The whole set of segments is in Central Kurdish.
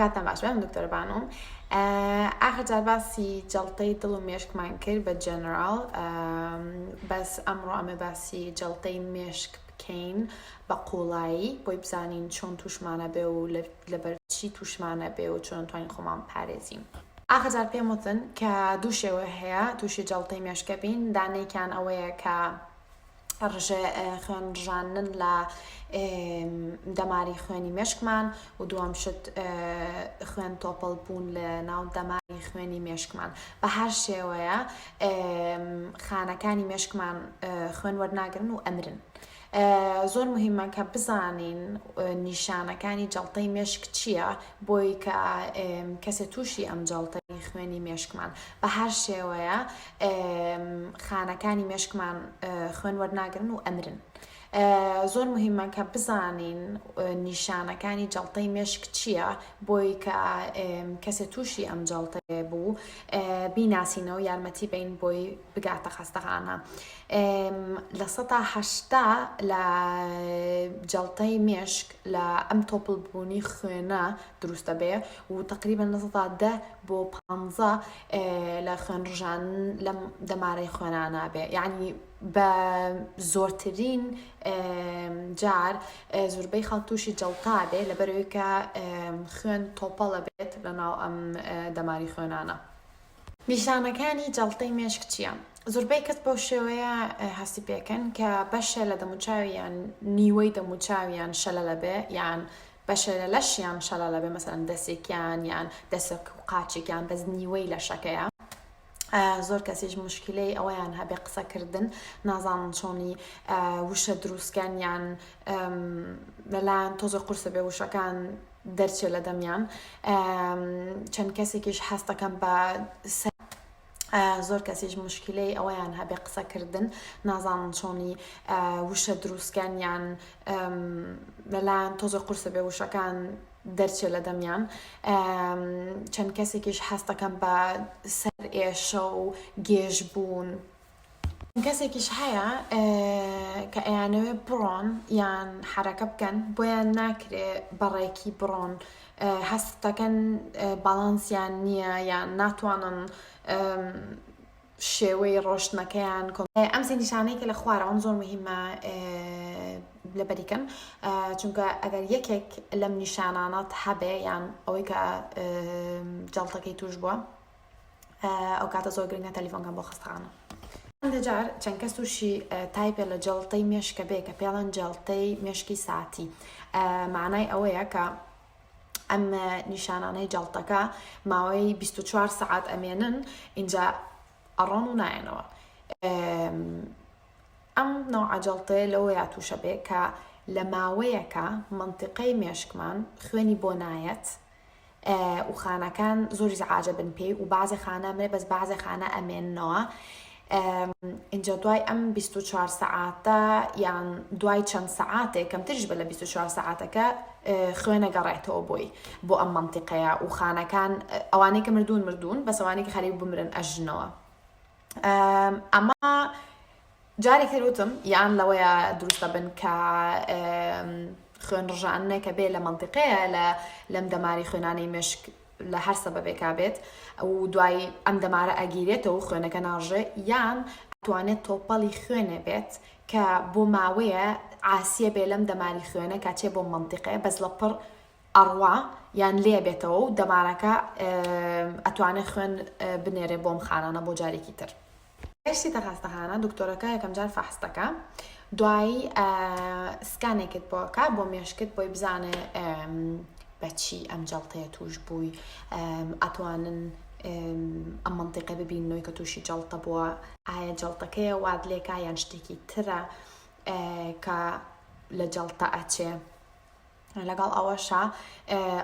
کاتتان باش بێت من دکتۆرە بانوم ئاخر جار باسی جەڵتەی دڵ و مێشکمان کرد بە جەنراڵ بەس ئەمڕۆ ئەمە باسی جەڵتەی مێشک بکەین بە قوڵایی بۆی بزانین چۆن توشمانە بێ و لەبەرچی توشمانە بێ و چۆن توانین خۆمان پارێزین. ئاخەجار پێم وتن کە دوو شێوە هەیە تووشی جەڵتەی مێشکە بین دانێکیان ئەوەیە کە خوێن ڕژاندن لە دەماری خوێنی مێشکمان و دووەم شت خوێن تۆپەڵ بوون لە ناو دەماری خوێنی مێشکمان بە هەر شێوەیە خانەکانی مێشکمان خوێن وەرناگرن و ئەمرن. زۆر مهمە کە بزانین نیشانەکانی جڵتەی مێشک چییە بۆی کە کەسە تووشی ئەم جڵتەی خوێنی مێشکمان بە هەر شێوەیە خانەکانی مێشکمان خوێن وەرناگرن و ئەمرن زۆر مهمە کە بزانین نیشانەکانی جڵتەی مێشک چییە بۆی کە کەسێ تووشی ئەم جڵتەیە بوو بیناسینەوە یارمەتی بین بۆی بگاتە خەستەخانە لە سەهشتا لە جڵتەی مێشک لە ئەم تۆپل بوونی خوێنە دروستە بێ و تقریبان لە سەدا بۆ پانزە لە خوێن ڕژان لەم دەمارەی خوێنانە بێ یعنی بە زۆرترین جار زوربەی خەڵک تووشی جەڵتا بێ لەبەرەوەی کە خوێن تۆپەڵە بێت لە ناو ئەم دەماری خوێنانە نیشانەکانی جەڵتەی مێشک چییە؟ زوربەی کەس بەو شێوەیە هەستی پێکەن کە بەشە لە دەموچاویان نیوەی دەموچاویان شەلە لەبێ یان بەشێلە لەشیان شەلەڵە بێ مەسەلەن دەسێکیان یان دەسەک و قاچێکیان بەس نیوەی لەشەکەیە زۆر کەسیش مشکلەی ئەوەیان هەبێ قسەکردن نازانن چۆنی وشە دروستکەن یان لەلایەن تۆزە قورسە بێ وشەکان دەرچێ لە دەمیان چەند کەسێکیش هەستەکەم بە زۆر کەسیش مشکلەی ئەوەیان هەبێ قسەکردن نازانن چۆنی وشە دروستکەن یان لەلایەن تۆزە قورسە بێ وشەکان دەرچێ لە دەمیان چەند کەسێکیش حەستەکەم بە سەر ئێشە و گێژ بوون کەسێکیش هەیە کە ئەیانەوێ بڕۆن یان حرەکە بکەن بۆیان ناکرێ بەڕێکی بڕۆن هەستەکەن باڵانسیان نییە یان ناتوانن شێوەی ڕۆشتنەکەیان ئەم سێ نیشانەی کە لە خوارەوەم زۆر مهمە لەبەریکەم چونکە ئەگەر یەکێک لەم نیشانانات هەبێ یان ئەوەی کە جڵتەکەی توش بووە ئەو کاتە زۆر گرنگە تەلیفۆنکان بۆ خەستەخانە هەندێک جار چەند کەس تووشی تایپێ لە جەڵتەی مێشکە بێ کە پێڵەن جەڵتەی مێشکی ساتی معنای ئەوەیە کە ئەم نیشانانەی جەڵتەکە ماوەی 24 سعات ئەمێنن اینجا ئەڕۆن و نایەنەوە ئەم نەوعجلڵتەیە لەوەیە تووشە بێ کە لە ماوەیەکە منتیقەی مێشکمان خوێنی بۆ نایەت و خانەکان زۆریز عاجبن پێی و بازێ خانە مرێ بەس بازێ خانە ئەمێنەوە اینجا دوای ئەم 24 سەعاتە یان دوای چەند سەعاتێک کەمترش بە لە 24 سەعاتەکە خوێنە گەڕێتەوە بۆی بۆ ئەم منتیقەیە و خانەکان ئەوانەی کە مردوون مردوون بەسەوانێکی خەریب بمرن ئەژنەوە ئەمە جارێک تر وتم یان لەوەیە دروستە بن کە خوێن ڕژانەکە بێ لە منطقەیە لە لەم دەماری خوێنانی مشک لە هەر سەبەبێکا بێت ئەو دوای ئەم دەمارە ئەگیرێتەوە خوێنەکە ناژێ یان توانێت تۆپەڵی خوێنێ بێت کە بۆ ماوەیە ئاسیە بێ لەم دەماری خوێنە کاچێ بۆ منطقەیە بەس لە پڕ ئەڕوا یان لێ بێتەوە و دەمارەکە ئەتوانێ خوێن بنێرێ بۆم خانانە بۆ جارێکی تر. گەشتی تەخاستەخانە دکتۆرەکە یەکەمجار فەحست دەکا دوایی سکانێکت بۆکە بۆ مێشکت بۆی بزانێ بەچی ئەم جەڵتەیە توش بووی ئەتوانن ئەم منتیقە ببینەوەی کە تووشی جەڵتە بووە ئایا جەڵتەکەیە واد لێکا یان شتێکی ترە کە لە جەڵتە ئەچێ لەگەڵ ئەوەشا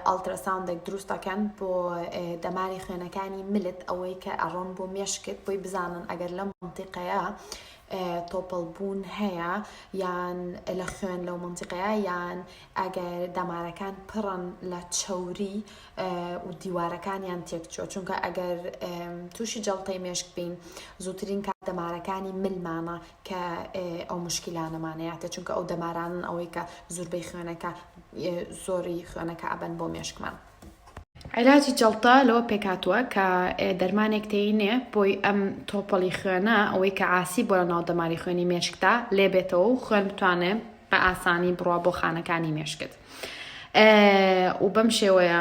ئەڵتراساوندێک دروست دەکەن بۆ دەماری خوێنەکانی ملت ئەوەی کە ئەڕۆن بۆ مێشکت بۆی بزانن ئەگەر لەم منتیقەیە تۆپەڵبوون هەیە یان لە خوێن لەو منتیقەیە یان ئەگەر دەمارەکان پڕن لە چەوری و دیوارەکانیان تێکچۆ چونکە ئەگەر تووشی جەڵتەی مێشک بین زووترین کات دەمارەکانی ملمانە کە ئەو مشکیلانەمان هەیاتێ چونکە ئەو دەمارانن ئەوەی کە زوربەی خوێنەکە زۆری خوێنەکە ئەبەن بۆ مێشکمان. عێلاجی جەڵتە لەوە پێکاتوە کە دەرمانێک تێینێ بۆی ئەم تۆپەڵی خوێنە ئەوەی کە عاسی بۆ لە ناو دەماری خوێنی مێشکدا لێبێتەوە و خوێن بتوانێ بە ئاسانی بڕوا بۆ خانەکانی مێشکت و بەم شێوەیە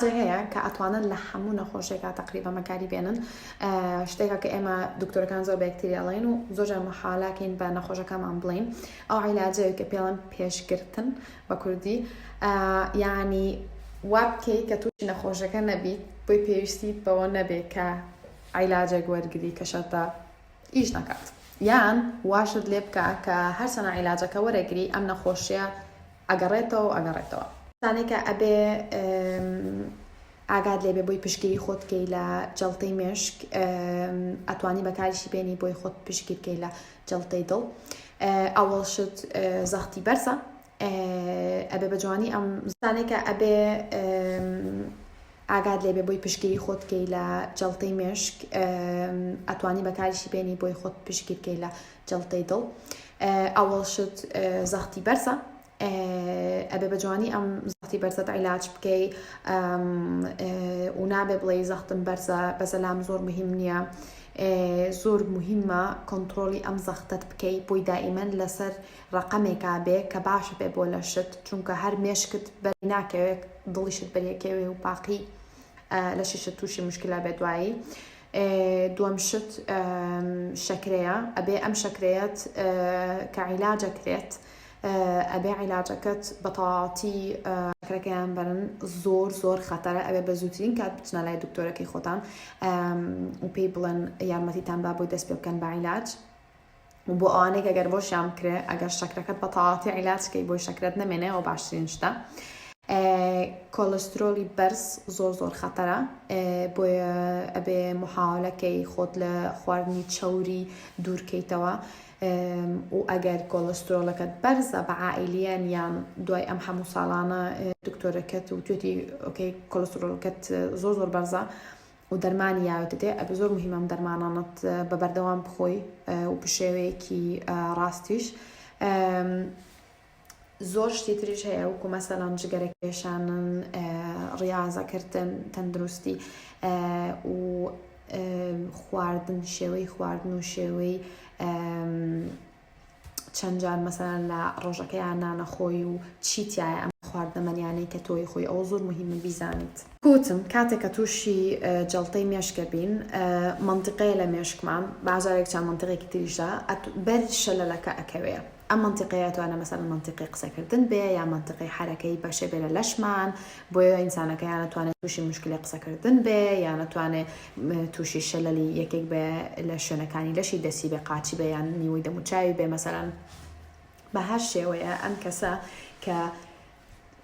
ئەوەی هەیە کە ئەتوانن لە هەموو نەخۆشیەکا تەقریبەن بەکاری بێنن شتێکە کە ئێمە دکتۆرەکان زۆر بەکتری ئەڵێن و زۆرجار محالاکەین بە نەخۆشەکانمان بڵین ئەو عیلاجەوەی کە پێڵەن پێشگرتن بە کوردی یعنی وابکەی کە تووشی نەخۆشەکە نەبیت بۆی پێویستیت بەوە نەبێ کە عیلاجێک وەرگری کە شەرتە ئیش نەکات یان واشت لێ بکە کە هەرچەنە عیلاجەکە وەرەگری ئەم نەخۆشیە ئەگەڕێتەوەو ئەگەڕێتەوە. شتانەی کە ئەبێ ئاگات لێبێ بۆی پشتگیری خۆت بکەی لە جەڵتەی مێشک ئەتوانی بەکاریشی بێنی بۆی خۆت پشتگیر بکەی لە جەڵتەی دڵ ئەوەڵ شت زەختی بەرزە ئەبێ بە جوانی ئەم زانەی کە ئەبێ ئاگات لێبێ بۆی پشتگیری خۆت بکەی لە جەڵتەی مێشک ئەتوانی بەکاریشی بێنی بۆی خۆت پشتگیر بکەی لە جەڵتەی دڵ ئەوەڵ شت زەختی بەرزە ئەبێ بە جوانی ئەم زەختی بەرزەت عیلاج بکەی و نابێ بڵێ زەختم بەرزە بەسەلام زۆر مهم نییە زۆر مهمە کۆنتترۆلی ئەم زەختت بکەی بۆی دائیمەن لەسەر ڕقەمێکا بێ کە باشە بێ بۆ لە شت چونکە هەر مێشکت بەر ناکەوێت دڵیشت بەریەکەوێ و پاقی لە شیشە تووشی مشکلا بێ دوایی دوەم شت شەکرەیە ئەبێ ئەم شەکرەیەت کە عیلاجە کرێت ئەبێ عیلاجەکەت بە تەواتی شەکرەکەیان بەرن زۆر زۆر خەتەرە ئەوێ بە زووترین کات بچنە لای دکتۆرەکەی خۆتان و پێی بڵێن یارمەتیتان با بۆی دەست پێ بکەن بە عیلاج و بۆ ئەوانەی کە گەر بۆشیان بکرێ ئەگەر شەکرەکەت بە تەواتی عیلاج کەی بۆی شەکرەت نەمێنێ ئەو باشترین شتە کۆلسترۆلی بەرز زۆر زۆر خەتەرە بۆیە ئەبێ محاولەکەی خۆت لە خواردنی چەوری دوورکەیتەوە و ئەگەر کۆلسترۆلەکەت بەرزە بە عائلیان یان دوای ئەم هەموو ساڵانە دکتۆرەکەت و توێتی ئۆکەی کۆلسترۆلکەت زۆر زۆر بەرزە و دەرمانی یاوێ دەدێ ئەبێ زۆر مهیمە ئەم دەرمانانەت بە بەردەوام بخۆی و بشێوەیەکی ڕاستیش زۆر شتی تریش هەیە وکو مەسەلان جگەرە کێشانن ڕاضەکردن تەندروستی و خواردن شێوەی خواردن و شێوەی چەند جار مەسەلەن لە ڕۆژەکەیان نانەخۆی و چی تیایە ئەم خواردنە مەنیانەی کە تۆی خۆی ئەوە زۆر موهیمە بیزانیت. کوتم کاتێک کە توشی جەڵتەی مێشکە بین مەنتیقەیە لە مێشکمان باجارێک چەند مەنتیقێکی تریشدا بەر شەلەلەکە ئەکەوێ ئەم مەنتیقەیە ئەتوانێ مەسەلەن مەنتیقی قسە کردن بێ یا مەنتیقی حەرەکەی بەشێ بێ لە لەشمان بۆیە ئینسانەکە یان ئەتوانێ توشی موشکلی قسە کردن بێ یان ئەتوانێ توشی شەلەلی یەکێک بێ لە شوێنەکانی لەشی دەستی بێ قاچی بێ یان نیوەی دەموچاوی بێ مەسەرەن بە هەر شێوەیە ئەم کەسە کە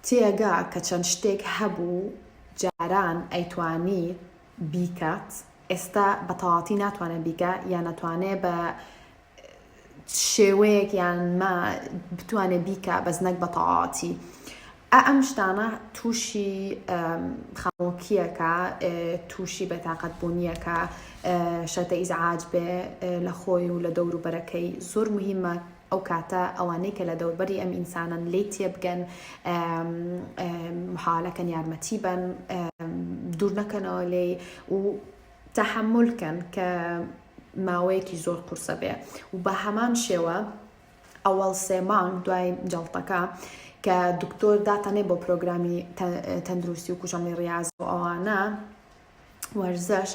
تێگا کە چەند شتێک هەبوو جاران ئەیتوانی بیکات ئێستا بە تەواتی ناتوانێت بیکە یان نەتوانێت بە شێوەیەک یان مە بتوانێ بیکا بەس نەک بە تەواتی ئە ئەم شتانە تووشی خەمۆکیەکە تووشی بە تااقەت بوونیەکە شەتە ئیزعاج بێ لە خۆی و لە دەوروبەرەکەی زۆر مهمە ئەو کاتە ئەوانەی کە لە دەوربەری ئەم ئینسانن لی تێبگەن محالەکەن یارمەتی بەن دوور نەکەنەوە لێ و تەحەمول کەن کە ماوەیەکی زۆر قورسە بێ و بە هەمان شێوە ئەوەڵ سێ مانگ دوای جەڵتەکە کە دکتۆر داتانێ بۆ پرۆگرامی تەندروستی و کوشەڵی ڕاز و ئەوانە وەرزش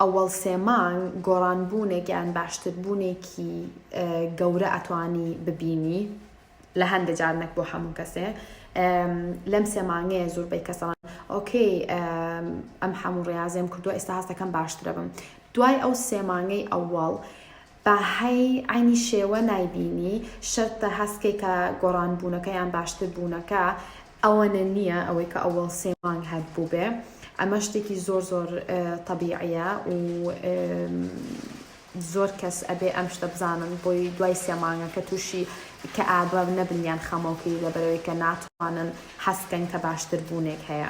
ئەوەڵ سێ مانگ گۆڕانبوونێک یان باشتربوونێکی گەورە ئەتوانی ببینی لە هەندێ جار نەک بۆ هەموو کەسێ لەم سێ مانگەیە زۆربەی کەسەڵان ئۆکەی ئەم هەموو ڕاازێم کردووە ئێستا هەستەکەم باشترە بم دوای ئەو سێ مانگەی ئەوواڵ باهەی ئاینی شێوە نایبینی شەرتە هەستکەی کە گۆڕان بوونەکەیان باشتر بوونەکە ئەوەنە نیە ئەوەی کە ئەوەڵ سێ مانگ هەت بوبێ ئەمە شتێکی زۆر زۆر تەبیعیە و زۆر کەس ئەبێ ئەم شتە بزانن بۆی دوای سێ مانگە کە تووشی کە ئابە نەبنیان خەمەڵکی لەبەرەوەی کە ناتوانن حەسکەن کە باشتر بوونێک هەیە.